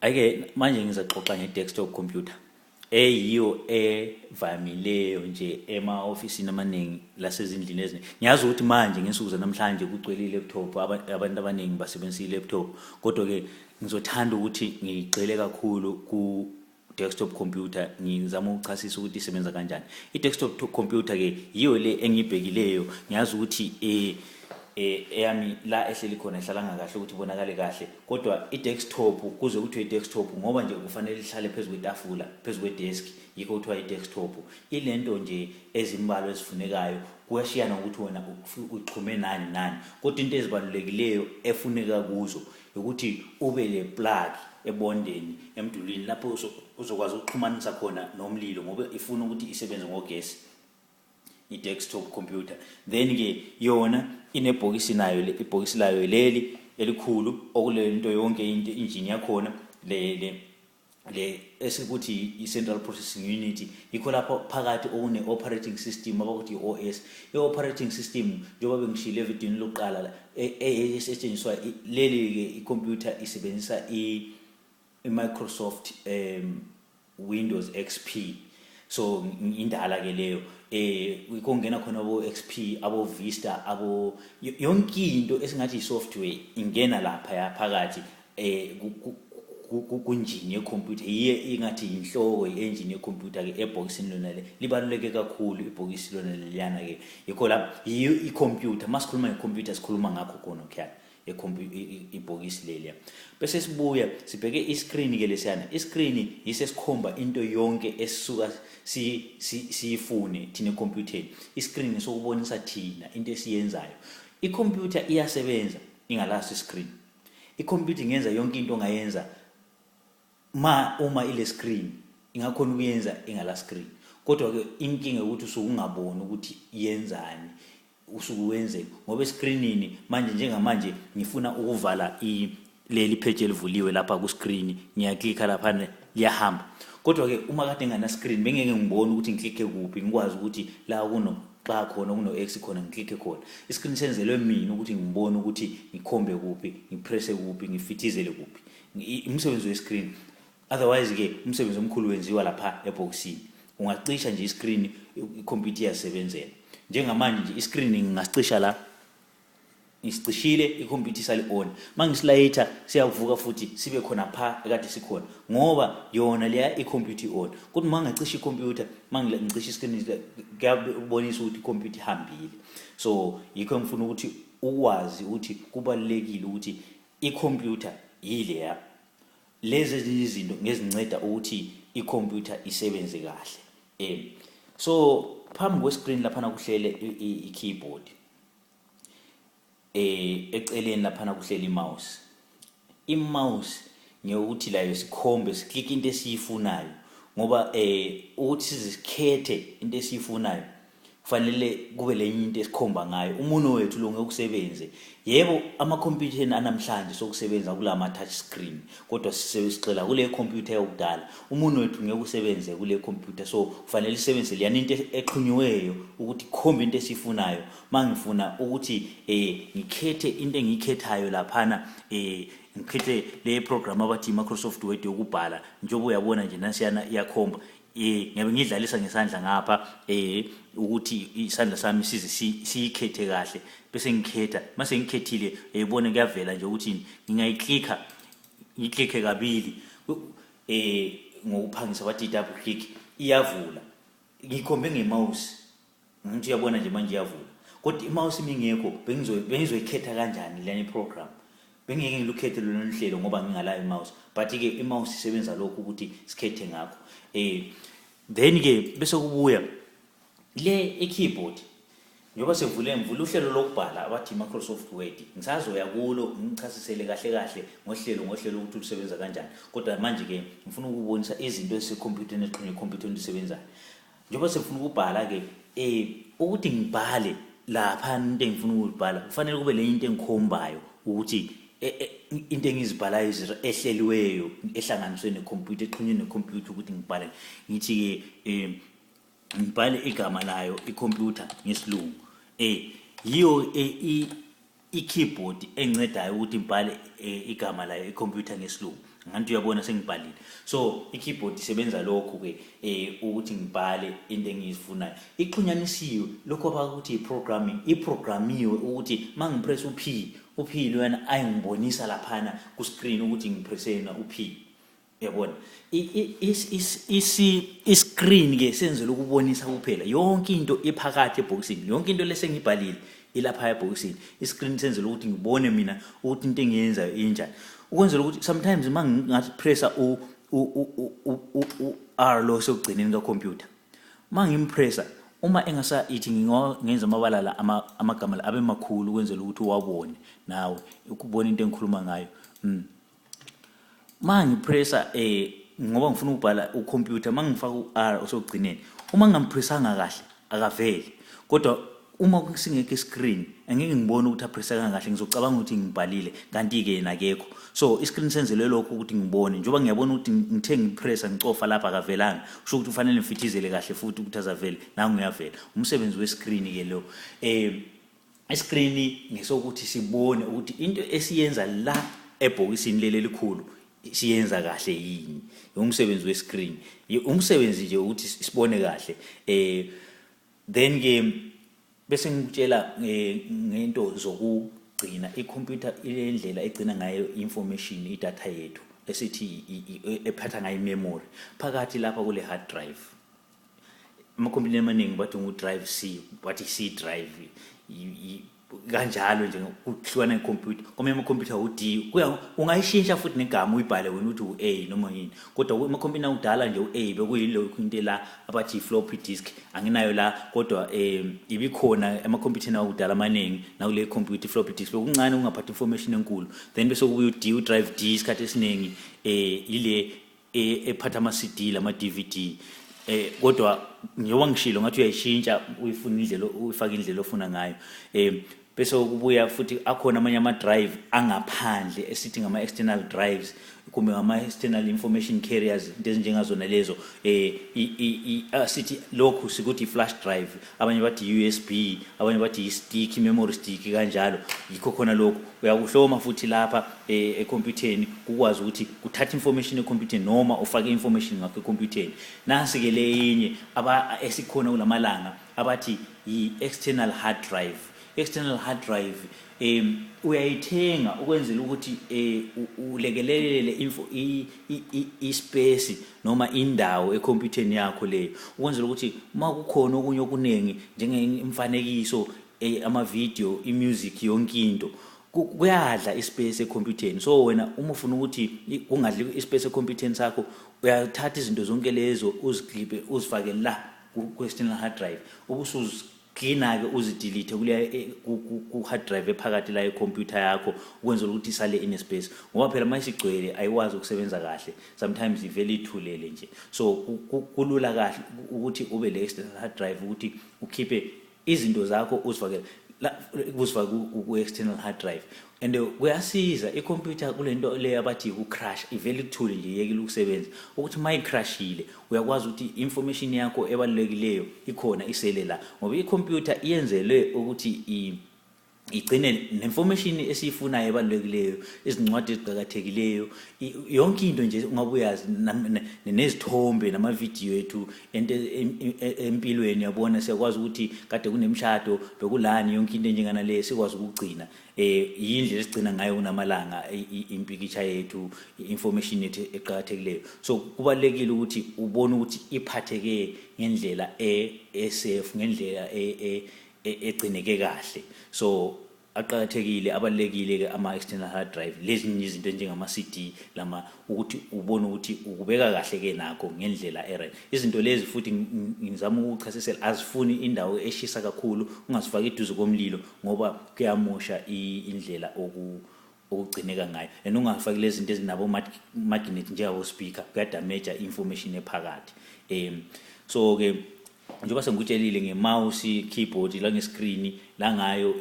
ayike manje ngizaxoxa nge-desktop computer eyiyo evamileyo nje ema-ofisini amaningi lasezindlini eziningi ngiyazi ukuthi manje ngensuku zanamhlanje kugcwele i-laptop abantu abaningi basebenzisa i-laptop kodwa-ke ngizothanda ukuthi ngigxile kakhulu desktop computer ngizama ukuchasisa ukuthi isebenza kanjani i-desktop computer ke yiyo le engibhekileyo ngiyazi ukuthi eh, eh eyami la ehleli khona ihlalanga kahle ukuthi ibonakale kahle kodwa i-desktop kuze kuthiwe i-desktop ngoba nje kufanele ihlale phezu kwetafula phezu kwedesk yikho kuthiwa i-desktop ilento nje ezimbalo ezifunekayo kuyashiyana ukuthi wena uxhume nani nani kodwa into ezibalulekileyo efuneka kuzo Yokuthi ube le plug ebondeni emdulwini lapho uzokwazi ukuxhumanisa khona nomlilo ngoba ifuna ukuthi isebenze ngogesi i-desktop computer then ke yona inebhokisi nayo le ibhokisi layo leli elikhulu okulento yonke into injini yakhona le le le esikuthi i-central processing unit yikho lapho phakathi okune-operating system abakuthi i-os i-operating system njengoba bengishile evidini lokuqala la e-, e-, esetshenziswa leli-ke ikhompyutha isebenzisa i-microsoft um windows x p so indala ke leyo eh kungena khona bo XP abo Vista abo yonke into esingathi isoftware ingena lapha yaphakathi eh kunjini yekhompyutha yiye ingathi yinhloko i-engine yekhompyutha ke ebhokisini lona le libaluleke kakhulu ibhokisi lona leliyana ke yikho la yiyo ikhompyutha masikhuluma ngekhompyutha sikhuluma ngakho khona khona ibhokisi leliya bese sibuya sibheke i-screen ke lesiyana i-screen yise sikhomba into yonke esisuka siyifune thina ekhompyutheni i-screen sokubonisa thina into esiyenzayo ikhompyutha iyasebenza ingalaso i-screen Ikhompyutha ingenza yonke into ongayenza ma uma ile screen ingakhona ukuyenza ingala screen. Kodwa ke inkinga ukuthi usuke ungaboni ukuthi yenzani usuke wenze ngoba escreenini manje njengamanje ngifuna ukuvala i leli page elivuliwe lapha ku screen ngiyaklikha lapha liyahamba kodwa ke uma kade ngana screen bengeke ngibone ukuthi ngiklikhe kuphi ngikwazi ukuthi la kuno xa khona kuno X khona ngiklikhe khona iscreen senzelwe mina ukuthi ngibone ukuthi ngikhombe kuphi ngipresse kuphi ngifithizele kuphi umsebenzi wescreen otherwise ke umsebenzi omkhulu wenziwa lapha eboxini ungacisha nje iscreen ikhompyutha iyasebenzela njengamanje nje iscreen ngingacisha la ngisicishile ikhompyutha isali on mangisilayitha siyavuka futhi sibe khona pha ekade sikhona ngoba yona leya ikhompyutha on kodwa mangacisha ikhompyutha mangicisha iscreen kuyabonisa ukuthi ikhompyutha ihambile so yikho ngifuna ukuthi ukwazi ukuthi kubalekile ukuthi ikhompyutha yileya lezi ezinye izinto ngezinceda ukuthi ikhompyutha isebenze kahle um so phambi kwescreen laphana kuhlele i-keyboard eh eceleni laphana kuhleli mouse imouse ngeyokuthi layo sikhombe siklike into esiyifunayo ngoba eh ukuthi sizikhethe into esiyifunayo kufanele kube lenye into esikhomba ngayo umuno wethu lo ngeke usebenze yebo ama computer anamhlanje sokusebenza kulama touch screen kodwa sigxila kule computer yokudala umuntu wethu ngeke usebenze kule computer so kufanele isebenzise leyana into exhunyiweyo ukuthi khombe into esifunayo mangifuna ukuthi eh ngikhethe into engikhethayo laphana eh ngikhethe le program abathi Microsoft Word yokubhala njengoba uyabona nje nasiyana iyakhomba eh ngiyabe ngidlalisa ngesandla ngapha eh ukuthi isandla sami size siyikhethe kahle bese ngikhetha mase ngikhethile ebone eh, kuyavela nje ukuthi ngingayiclicka ngiclicke kabili eh ngokuphangisa bathi double click iyavula ngikhombe ngemouse Ngithi uyabona nje manje iyavula. Kodwa imawusi mingekho bengizoyikhetha kanjani lena iprogram. Bengeke ngilukhethe lolu nhlelo ngoba ngingala imawusi. But ke imawusi isebenza lokho ukuthi sikhethe ngakho. Eh then ke bese kubuya le e-keyboard njengoba sevule ngivule uhlelo lokubhala abathi Microsoft Word ngisazoya kulo ngichasisele kahle kahle ngohlelo ngohlelo ukuthi lusebenza kanjani kodwa manje ke ngifuna ukubonisa izinto ezisekhompyutheni exhunywe ekhompyutheni lisebenzayo njengoba sefuna ukubhala-ke um ukuthi ngibhale lapha into engifuna ukuyibhala kufanele kube lenye into engikhombayo ukuthi e, e, into engizibhalayo izinto ehleliweyo ehlanganiswe nekhompyutha exhunywe nekhompyutha ukuthi ngibhale ngithi-ke um ngibhale igama layo ikhompyutha ngesilungu um yiyo e, i-keyboard engicedayo ukuthi ngibhale eh, igama layo i-computer ngesilungu nganti uyabona sengibhalile so i-keyboard isebenza lokhu-ke um eh, ukuthi ngibhale into engiyifunayo ixhunyanisiwe lokhu abakuthi i-programming iprogramiwe ukuthi uma ngipress u-p u-p loyana ayingibonisa laphana ku-screen ukuthi ngipressena u-p Yabona. I-screen ke senzela ukubonisa kuphela yonke into ephakathi ebhokisini. Yonke into lesengibhalile ilapha ebhokisini. I-screen senzela ukuthi ngibone mina ukuthi into engiyenzayo injani. Ukwenzela ukuthi sometimes uma ngingathi pressa u u-R lo sokugcineni ka-computer. Uma ngimpressa uma engasa ithi ngenza amabala la amagama la abe makhulu ukwenzela ukuthi uwabone nawe ukubona into engikhuluma ngayo. Mm. uma ngipressa um eh, ngoba ngifuna ukubhala ukhompyutha uma ngifaka u-r osokugcineni uma ngingampressanga kahle akaveli kodwa uma singekho iscreen angeke ngibone ukuthi aphresa kangahle ngizocabanga ukuthi ngibhalile kanti-ke yena akekho so iscreen senzelwe lokho ukuthi ngibone njengoba ngiyabona ukuthi ngithe ngiphresa ngicofa lapha akavelanga kusho ukuthi kufanele ngifithizele kahle futhi ukuthi azavele nangu uyavela umsebenzi wescreen-ke lo um iskrini ngesokuthi sibone ukuthi into esiyenza la ebhokisini leli elikhulu siyenza kahle yini umsebenzi wescreen umsebenzi nje ukuthi sibone kahle eh then ke bese ngikutshela eh, ngento zokugcina icomputer ilendlela egcina ngayo information idata yethu esithi ephatha ngayo memory phakathi lapha kule hard drive amakhompyutha amaningi bathi ngudrive c wathi c drive kanjalo nje kuhlukana ikhompyutha kwamanye amakhompyutha u-d ungayishintsha futhi negama uyibhale wena ukuthi u-a noma yini kodwa amakhompyutha akudala nje u-a bekuyilokhu into la abathi i-floppy disk anginayo la kodwa um ibikhona emakhompyutheni akudala amaningi nakule khompyutha i-floppy disk bekuncane kungaphathi information enkulu then bese kubuye u-d u-drive d isikhathi esiningi um yile e, ephatha ama CD lama DVD eh kodwa njengoba ngishilo ngathi uyayishintsha uyifuna indlela uyifaka indlela ofuna ngayo eh bese ukubuya futhi akhona amanye ama drive angaphandle esithi ngama external drives kumbe ngama external information carriers into ezinjengazona lezo eh sithi lokhu sikuthi flash drive abanye bathi yi-usb abanye bathi yi-stick i-memory stick kanjalo yikho khona lokhu uyakuhloma futhi lapha e, ekhompyutheni kukwazi ukuthi kuthatha information ekhompyutheni noma ufake information ngakho ekhompyutheni nasi-ke le yinye esikhona kulamalanga abathi yi-external hard drive external hard drive um uyayithenga ukwenzela ukuthi um ulekelelele ispesi noma indawo ekhompyutheni yakho leyo ukwenzela ukuthi uma kukhona okunye okuningi njengemfanekiso eh, amavidiyo imusic yonke into kuyadla ispace ekhompyutheni so wena uma ufuna ukuthi kungadli ispace ekhompyutheni sakho uyathatha izinto zonke lezo uziglibe uzifake la ku-external hard drive ubusuzi cleaner-ke uzidelete kuleya e, ku-hard drive ephakathi la ikhompyutha yakho ukwenzela ukuthi isale inespace ngoba phela uma isigcwele ayikwazi ukusebenza kahle sometimes ivele ithulele nje so kulula kahle ukuthi ube le external hard drive ukuthi ukhiphe izinto zakho uzifakele uzifake ku-external hard drive and kuyasiza i-computer kule nto le abathi yiku-crush ivele ikuthule nje yekile ukusebenza ukuthi uma icrushile uyakwazi ukuthi i-information yakho ebalulekileyo ikhona isele la ngoba i-computer iyenzelwe ukuthi igcine ne-information esiyifunayo ebalulekileyo izincwadi eziqakathekileyo yonke into nje ungabe uyazi nezithombe namavidiyo ethu e, e, empilweni yabona siyakwazi ukuthi kade kunemshado bekulani yonke into enjenganaleyo sikwazi ukugcina eh yindle esigcina ngayo kunamalanga impikitsha yethu information yethu eqhakathekileyo so kubalekile ukuthi ubone ukuthi iphatheke ngendlela e, e safe ngendlela e, e, e egcineke kahle so aqhakathekile abalekile ke ama external hard drive lezi izinto njengama CD lama ukuthi ubone ukuthi ukubeka kahle ke nakho ngendlela eren izinto lezi futhi ngizama ukuchasisela azifuni indawo eshisa kakhulu ungazifaki iduze komlilo ngoba kuyamosha indlela oku okugcineka ngayo and ungafaki lezi zinto ezinabo magnet njengabo speaker kuyadamage information ephakathi um so ke njengoba sengikutshelile nge-mouse keyboard la nge-screen la ngayo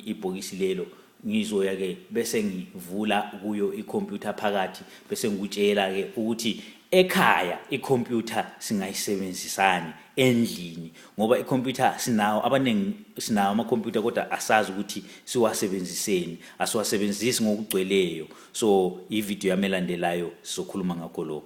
ibhokisi lelo ngizoya ke bese ngivula kuyo ikhompyutha phakathi bese ngikutshela ke ukuthi ekhaya ikhompyutha singayisebenzisani endlini ngoba ikhompyutha sinawo abaningi sinawo amakhompyutha kodwa asazi ukuthi siwasebenziseni asiwasebenzisi ngokugcweleyo so ivideo yamelandelayo sizokhuluma ngakho lokho